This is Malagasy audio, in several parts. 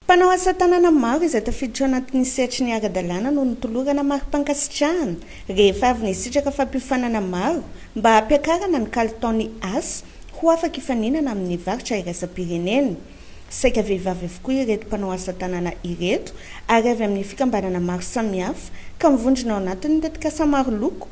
Mpanao asa tanana maro izay tafiditra ao anatin'ny sehatry ny ara-dalàna no notolorana mari-pankasitrahana rehefa avy nisitraka fampiofanana maro mba hampiakarana ny kalitaon'ny asa ho afaka hifaninana amin'ny varotra iraisam-pirenena. Saika vehivavy avokoa ireto mpanao asa tanana ireto ary avy amin'ny fikambanana maro samihafa ka mivondrona ao anatin'ny tetikasa maro loko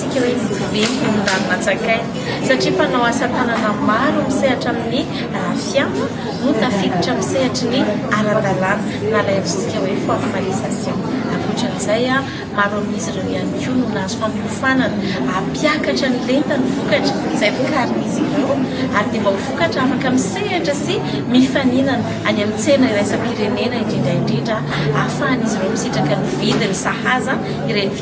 Tsy ny voavidy no mirary natsakainy, satria mpanao asa tanana maro misehatra amin'ny rafia no tafiditra amin'ny sehatry ny ara-dalàna, na ilay antsointsika hoe formalisation. Ankoatran'izay, maro amin'izy ireo ihany koa no nahazo fampiofanana hampiakatra ny lentan'ny vokatra izay vokarin'izy ireo, ary dia mba ho vokatra afaka misehatra sy mifaninana any amin'ny tsena iraisam-pirenena, indrindra indrindra ahafahan'izy ireo misitraka ny vidiny sahaza ireny.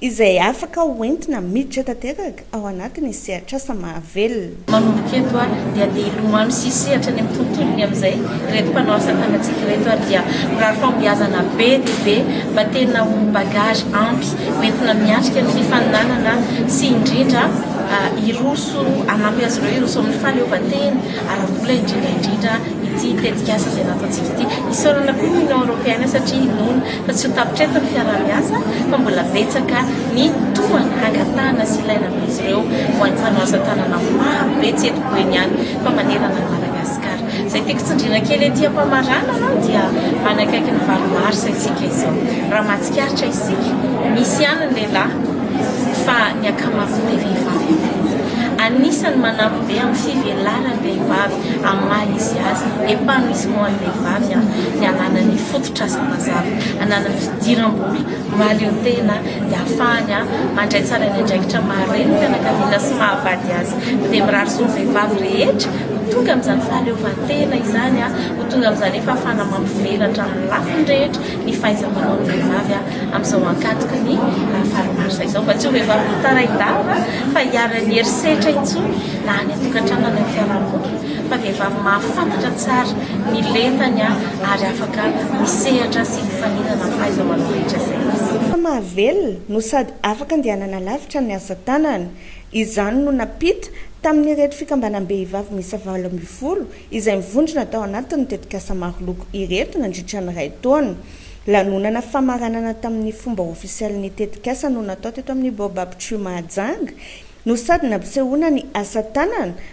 izay afaka ho entina miditra tanteraka ao anatin'ny sehatr'asa mahavelona. Manomboka eto ary dia andeha hilomano sy hisehatra any amin'ny tontolony amin'izay ireto mpanao asa tanantsika ireto ary dia mirary fahombiazana be dia be mba tena ho bagage ampy ho entina miatrika ny fifaninanana sy indrindra hiroso hanampy azy ireo hiroso amin'ny fahaleovantena ara-bola indrindra indrindra ity tetikasa izay nataontsika ity. Isaorana koa ny Union Européenne satria inoana fa tsy ho tapitra eto ny fiaraha-miasa fa mbola betsaka ny tohana hangatahana sy ilaina amin'izy ireo ho an'ny mpanao asa tanana maro be tsy eto Boeny ihany fa manerana an'i Madagasikara. Izay tiako tsindriana kely ety am-pamaranana aloha dia manakaiky ny valo marsa isika izao. Raha mahatsikaritra isika, misy ihany ny lehilahy fa ny ankamaroany dia vehivavy avokoa. Anisan'ny manampy be amin'ny fivelaran'ny vehivavy amin'ny maha izy azy, épanouissement an'ny vehivavy ny ananan'ny fototra. Trasan mazava, hanana fidiram-bola mahaleo tena dia hahafahany mandray tsara ny andraikitra maha reny ny fianakaviana sy maha vady azy. Dia mirary soa ny vehivavy rehetra ho tonga amin'izany fahaleovantena izany, ho tonga amin'izany fahafahana mampivelatra amin'ny lafiny rehetra ny fahaiza-manao ny vehivavy amin'izao ankatoky ny valo marsa izao. Mba tsy ho vehivavy mitarai-dava fa hiharan'ny herisetra intsony na any an-tokantrano na any amin'ny fiarahamonina fa vehivavy mahafantatra tsara ny lentany. ary afaka misehatra sy mifaninana amin'ny fahaiza-manao rehetra izay izy. Fa mahavelona no sady afaka andehanana lavitra ny asa tanana. Izany no nampita tamin'ireto fikambanam-behivavy miisa valo ambin'ny folo izay mivondrona tao anatin'ny tetikasa maro loko ireto nandritra ny iray taona. Lanonana famaranana tamin'ny fomba ofisialy ny tetikasa no natao teto amin'ny Baobab Tree Mahajanga no sady nampisehoana ny asa tanana